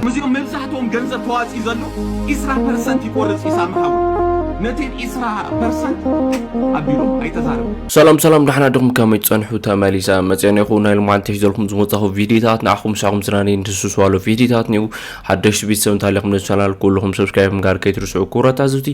ምስዚኦም መብዛሕትኦም ገንዘብ ተዋጺኡ ዘሎ ኢስራ ፐርሰንት ይቆርጽ ኢዩ ሳሚ ሓወይ ነተን ኢስራ ፐርሰንት ኣቢሎም ኣይተዛረቡ ሰላም ሰላም ዳሕና ድኹም ከመይ ትጸንሑ ተመሊሰ መጽዮን ይኹ ናይ ልማዓንቲ ሒዘልኩም ዝመጻኹ ቪዲዮታት ንዓኹም ሳኹም ዝናኒ ንትስስዋሉ ቪዲዮታት ኒኡ ሓደሽቲ ቤተሰብ እንተሃሊኹም ነዚ ቻናል ኩልኹም ሰብስክራይብ ምግባር ከይትርስዑ ክብረት ኣዝብቲ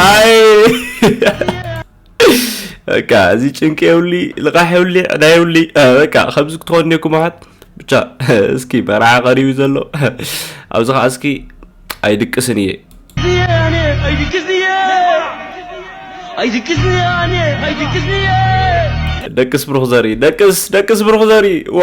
ኣይ በቃ እዚ ጭንቂ የብሊ ልቃሕ የብሊ ዕዳ የብሊ በቃ ከምዚ ክትኾን ኔኩም ኣሓት ብቻ እስኪ መርዓ ቀሪቡ ዘሎ ኣብዚ ከዓ እስኪ ኣይድቅስን እየ ደቅስ ብሩክ ዘርኢ ደቅስ ደቅስ ብሩክ ዘርኢ ዋ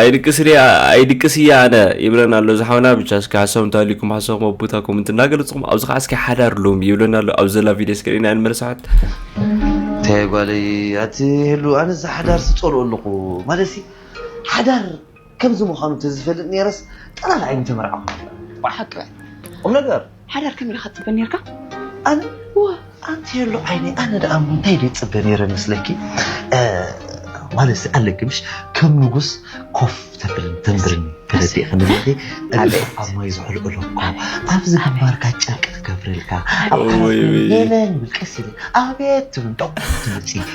ኣይድቅስ ኣይድቅስ እያ ኣነ ይብለና ኣሎ እዚ ሓውና ብቻ እስኪ ሓሳብ እንተሃልዩኩም ሓሳብኩም ኣብ ቦታ ኮመንት እናገለፅኩም ኣብዚ ከዓ እስኪ ሓዳር ሎሚ ይብለና ኣሎ ኣብ ዘላ ቪድዮ እስኪ ሪእና ንመለስ ሓት እንታይ ጓለይ ኣቲ ህሉ ኣነ እዚ ሓዳር ስፀልኦ ኣለኹ ማለት ሓዳር ከምዚ ምዃኑ ተዝፈልጥ ኔረስ ጥራፍ ኣይምተመርዓኹ ነበር። ዋይ ሓቂ በል ቁምነገር ሓዳር ከመይ ኢልካ ትጽበ ኔርካ? ኣነ እወ ኣንትየሉ ዓይነይ ኣነ ደኣ እሞ እንታይ ድየ ዝጽበ ኔረ መስለኪ ማለትሲ ኣለኪ ምሽ ከም ንጉስ ኮፍ ተብልን ተንብርን ተረዲእኺ ንብለኺ እግርኺ ኣብ ማይ ዝዕልቕሎ እኮ ኣብዚ ግንባርካ ጨርቂ ትገብረልካ ኣብ ዓራትኪ ለለ ንብል ቀስ ኢለ ኣቤት ትብል ዶቕ ትብል ጺ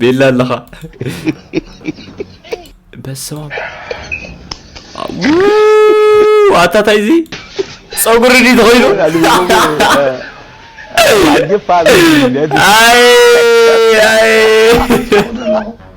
ቤላ ኣለኻ በስማም ኣታታይ እዚ ፀጉሪ ድዩ ተኸይኑ ኣይ ኣይ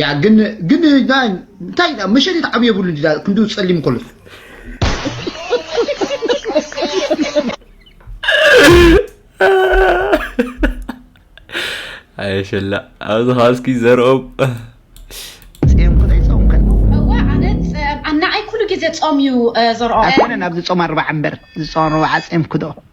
ያ ግን ግን እንታይ መሸት ዓብ የብሉ እንዲ ክንዲ ጸሊም ከሎ ኣየሸላ ኣብዚ ከዓ እስኪ ዘርኦም ኣናዓይ ኩሉ ግዜ ፆም እዩ ዘርኦ ኣይኮነን ኣብዚ ፆም ኣርባዓ እምበር ዝፆም ኣርባዓ ፆምኩ ዶ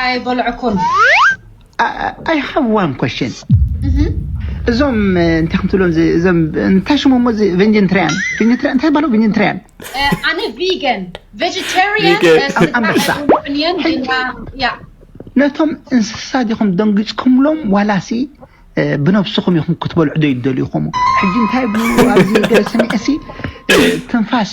ኣይበልዕኩን ኣይ ሃቭ ዋን ኮሽን እዞም እንታይ ከምትብሎም እዞም እንታይ ሽሙ እሞ እዚ ቬንጅንትሪያን ቬንጅንትሪያን እንታይ ባለው ቬንጅንትሪያን ኣነ ቪገን ቬጀቴሪያን ኣንበሳ ነቶም እንስሳ ዲኹም ደንጊፅኩምሎም ዋላሲ ብነብስኹም ኢኹም ክትበልዑ ዶ ይደልዩኹም ሕጂ እንታይ ብሉ ኣብዚ ገለ ሰሚዐሲ ትንፋስ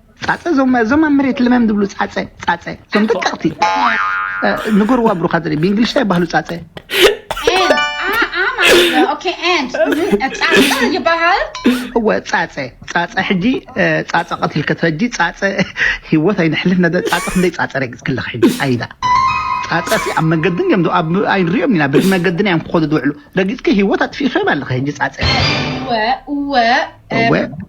ጻጸ እዞም እዞም ኣብ መሬት ልመም ዝብሉ ጻጸ ጻጸ እዞም ደቀቕቲ ንገርዋ ብሩኻ ዘርኢ ብእንግሊሽ እንታይ ይባህሉ ጻጸ ይበሃል እወ ጻጸ ጻጸ ሕጂ ጻጸ ቀትልከ ሕጂ ጻጸ ህይወት ኣይንሕልፍ ነደ ጻጸ ክንደይ ጻጸ ረግጽ ክለኽ ሕጂ ኣይዳ ጻጸቲ ኣብ መገድን እዮም ኣብ ኣይንሪኦም ኢና በዚ መገድን እዮም ክኸዱ ዝውዕሉ ረጊጽኪ ህይወት ኣጥፊእኺ ኣለኺ ሕጂ ጻጸ እወ እወ እወ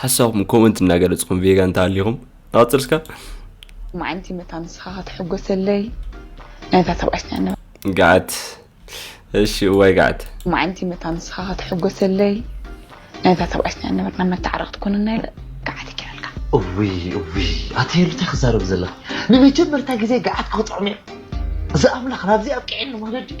ሓሳብኩም ኮመንት እናገለፅኩም ቬጋ እንተሃሊኹም ንቐፅል ስካ መዓንቲ መታ ንስኻ ከተሕጎሰለይ ናይታ ተባዕትና ገዓት እሺ እዋይ ገዓት መዓንቲ መታ ንስኻ ከተሕጎሰለይ ናይታ ተባዕትና ነበርና መተዓረቕቲ ኮንና ኢለ ገዓት ይኪረልካ እውይ እውይ ኣተየሉ እንታይ ክዛረብ ዘለኺ ንመጀመርታ ግዜ ገዓት ክጥዕም እየ እዚ ኣምላኽ ናብዚ ኣብቂዐኒ ማለት ድዩ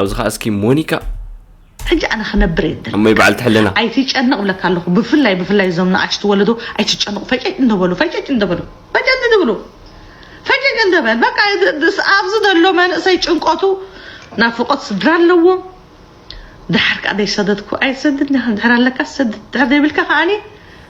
ኣብዚ ከኣ እስኪ ሞኒካ። ሕጂ ኣነ ክነብር እየ ዝደሊ እሞይ በዓልቲ ሕልና። ኣይትጨነቅ እብለካ ኣለኩ ብፍላይ ብፍላይ እዞም ንኣሽቱ ወለዶ ኣይትጨነቁ ፈጨጭ እንደበሉ ፈጨጭ እንደበሉ ፈጨጭ ዝብሉ ፈጨጭ እንደበል በቃ ኣብዚ ዘሎ መንእሰይ ጭንቆቱ ናፍቆት ስድራ ኣለዎ ድሓር ከኣ ዘይሰደድኩ ኣይትሰድድ ዲካ ድሕር ኣለካ ሰድድ ድሕር ዘይብልካ ከኣኒ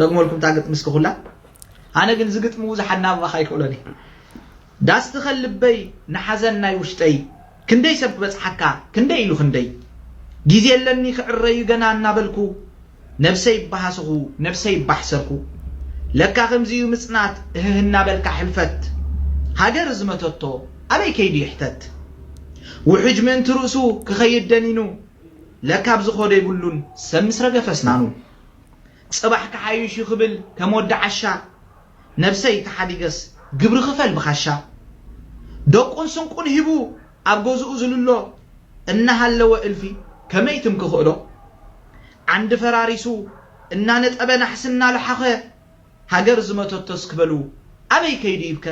ደግመልኩም እታ ግጥሚ እስኪ ኩላ ኣነ ግን እዚ ግጥሚ ብዙሕ ኣናብባኻ ኣይክእሎን እየ ዳስ ትኸል ልበይ ንሓዘን ናይ ውሽጠይ ክንደይ ሰብ ክበጽሓካ ክንደይ ኢሉ ክንደይ ግዜ ኣለኒ ክዕረዩ ገና እናበልኩ ነብሰይ ባሃስኹ ነብሰይ ባሕሰርኩ ለካ ከምዚ እዩ ምጽናት እህህ እናበልካ ሕልፈት ሃገር ዝመተቶ ኣበይ ከይዱ ይሕተት ውሕጅ ምእንቲ ርእሱ ክኸይድ ደኒኑ ለካ ኣብዚ ኾዶ የብሉን ሰብ ምስ ረገፈ ኣስናኑ ጽባሕ ክሓይሽ ዩ ክብል ከም ወዲ ዓሻ ነብሰይ ተሓዲገስ ግብሪ ክፈል ብኻሻ ደቁን ስንቁን ሂቡ ኣብ ገዝኡ ዝልሎ እናሃለወ እልፊ ከመይ ትም ክኽእሎ ዓንዲ ፈራሪሱ እናነጠበ ናሕሲ እናሎሓኸ ሃገር ዝመተቶስ ክበሉ ኣበይ ከይዱ ይብከ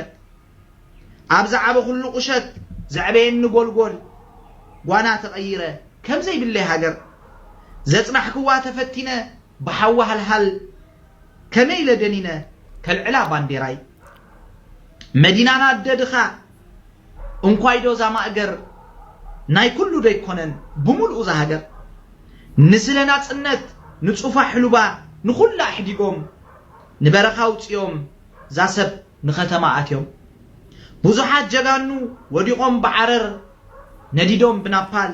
ኣብ ዝዓበኹሉ ቁሸት ዘዕበየኒ ጎልጎል ጓና ተቐይረ ከም ዘይብለይ ሃገር ዘጽናሕክዋ ተፈቲነ ብሓዊ ሃልሃል ከመይ ኢለ ደኒነ ከልዕላ ባንዴራይ መዲናና ኣደ ድኻ እንኳይዶ እዛ ማእገር ናይ ኩሉ ዶ ኣይኮነን ብምሉኡ እዛ ሃገር ንስለ ናጽነት ንጹፋ ሕሉባ ንኹላ ኣሕዲጎም ንበረኻ ኣውጺኦም እዛ ሰብ ንከተማ ኣትዮም ብዙሓት ጀጋኑ ወዲቆም ብዓረር ነዲዶም ብናፓል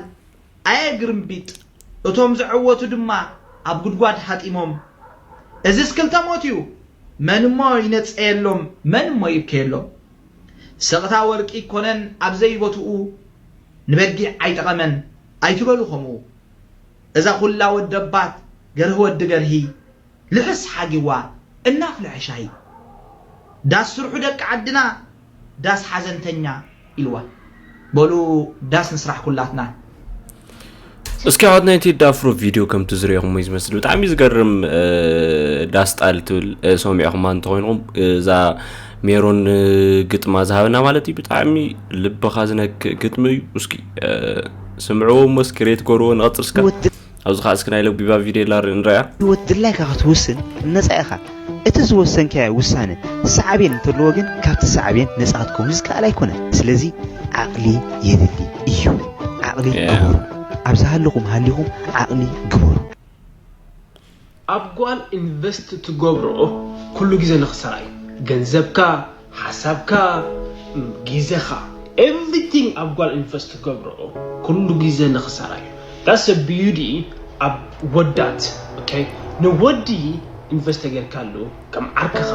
ኣየ ግርምቢጥ እቶም ዘዐወቱ ድማ ኣብ ጉድጓድ ሃጢሞም እዝስ ክልተ ሞት እዩ መን እሞ ይነጸየሎም መን እሞ ይብከየሎም ስቅታ ወርቂ ኣይኮነን ኣብ ዘይቦትኡ ንበጊዕ ኣይጠቀመን ኣይትበሉ ከምኡ እዛ ኩላ ወደባት ገርሂ ወዲ ገርሂ ልሕስ ሓጊዋ እናፍለሐ ሻሂ። ዳስ ስርሑ ደቂ ዓድና ዳስ ሓዘንተኛ ኢልዋ። በሉ ዳስ ንስራሕ ኩላትና። እስኪ ኣሕዋት ናይ ቴዲ ኣፍሮ ቪድዮ ከምቲ ዝሪኦኹም እዩ ዝመስል ብጣዕሚ ዝገርም ዳስ ጣል ትብል ሰሚዕኹማ እንተኾይንኹም እዛ ሜሮን ግጥማ ዝሃበና ማለት እዩ ብጣዕሚ ልብኻ ዝነክእ ግጥሚ እዩ እስኪ ስምዕዎ እሞ እስኪ ሬት ጎርዎ ንቐፅል እስካ ኣብዚ ከዓ እስኪ ናይ ለቢባ ቪዴላ ርኢ ንረኣያ። ህይወት ድላይካ ክትውስን ነጻ ኢኻ። እቲ ዝወሰንካዮ ውሳነ ሳዕቤን እንተለዎ ግን ካብቲ ሳዕቤን ነጻ ክትከውን ዝከኣል ኣይኮነን። ስለዚ ዓቕሊ የድሊ እዩ። ዓቕሊ ግበሩ። ኣብ ዝሃለኹም ሃሊኹም ዓቕሊ ግበሩ። ኣብ ጓል ኢንቨስት ትገብሮ ኩሉ ግዜ ንክሳራ እዩ ገንዘብካ ሓሳብካ ግዜካ ኤቭሪቲንግ ኣብ ጓል ኢንቨስት ትገብሮ ኩሉ ግዜ ንክሳራ እዩ ዳትስ ዘ ቢዩቲ ኣብ ወዳት ኦኬ ንወዲ ኢንቨስት ተገርካሉ ከም ዓርክኻ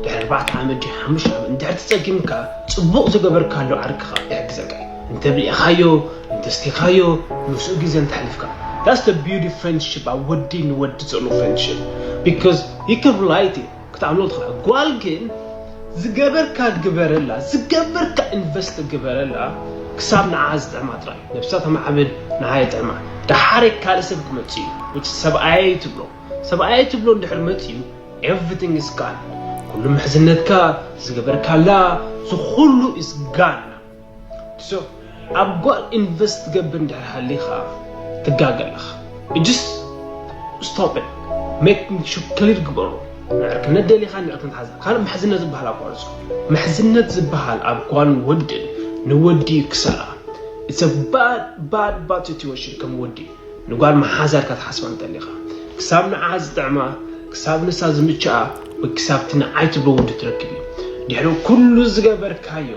ድሕሪ ኣርባዕተ ዓመት ድዩ ሓሙሽተ ዓመት እንድሕር ተጸጊምካ ጽቡቕ ዝገበርካሉ ዓርክኻ ይሕግዘካ እዩ እንተ ብሊዕኻዮ እንተ ስቲኻዮ ምስኡ ግዜ እንተ ኣሕሊፍካ that's the beauty friendship ኣብ ወዲ ንወዲ ዘሎ friendship because you can relate it ክትኣምኖ ትኽእል ጓል ግን ዝገበርካ ግበረላ ዝገበርካ ኢንቨስት ግበረላ ክሳብ ንዓኣ ዝጥዕማ ጥራይ ነብሳ ተማዕብል ንዓኣ የጥዕማ ደሓር ካልእ ሰብ ክመጽእ እዩ which ሰብኣየይ ትብሎ ሰብኣየይ ትብሎ እንድሕር መጺኡ ኤቭሪቲንግ ኢዝ ጋን ኩሉ ምሕዝነትካ ዝገበርካላ ዝኹሉ ኢዝ ጋን ሶ ኣብ ጓል ኢንቨስት ትገብር እንድሕር ሃሊኻ ትጋገ ኣለኻ እጅስ ስቶፕ ኢት ሜክ ሹር ክሊር ግበሮ ንዕርክነት ደሊኻ ንዕርክነት ሓዛ ካልእ ምሕዝነት ዝበሃል ኣቋርጾ ምሕዝነት ዝበሃል ኣብ ጓል ወድን ንወዲ ክሳራ ኢትስ ኣ ባድ ባድ ባድ ሲትዌሽን ከም ወዲ ንጓል መሓዛ ኢልካ ትሓስባ እንተሊኻ፣ ክሳብ ንዓኣ ዝጥዕማ፣ ክሳብ ንሳ ዝምችኣ ወይ ክሳብ'ቲ ንዓይ ትብሎ ወዲ ትረክብ እዩ። ድሕሪ ኩሉ ዝገበርካዮ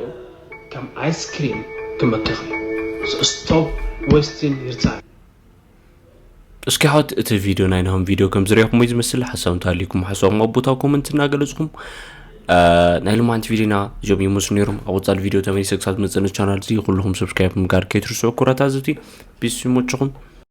ከም ኣይስክሪም ክመክኽ እዩ። So stop wasting your time! እስኪ ኣሕዋት እቲ ቪድዮ ናይ ናሆም ቪድዮ ከምዝረኢኹምዎ እዩ ዝመስል ሓሳብ እንተሃልዩኩም ሓሳብኩም ኣብ ቦታው ኮመንት እናገለጽኩም ናይ ልማንቲ ቪድዮና እዞም ይመስሉ ነይሮም ኣብ ወፃሊ ቪድዮ ተመሊሰ ክሳብ ዝመፅእ ቻናል እዚ ኩልኹም ሰብስክራይብ ምግባር ከይትርስዑ ኩራት ኣዘብቲ ቢስ ይመችኹም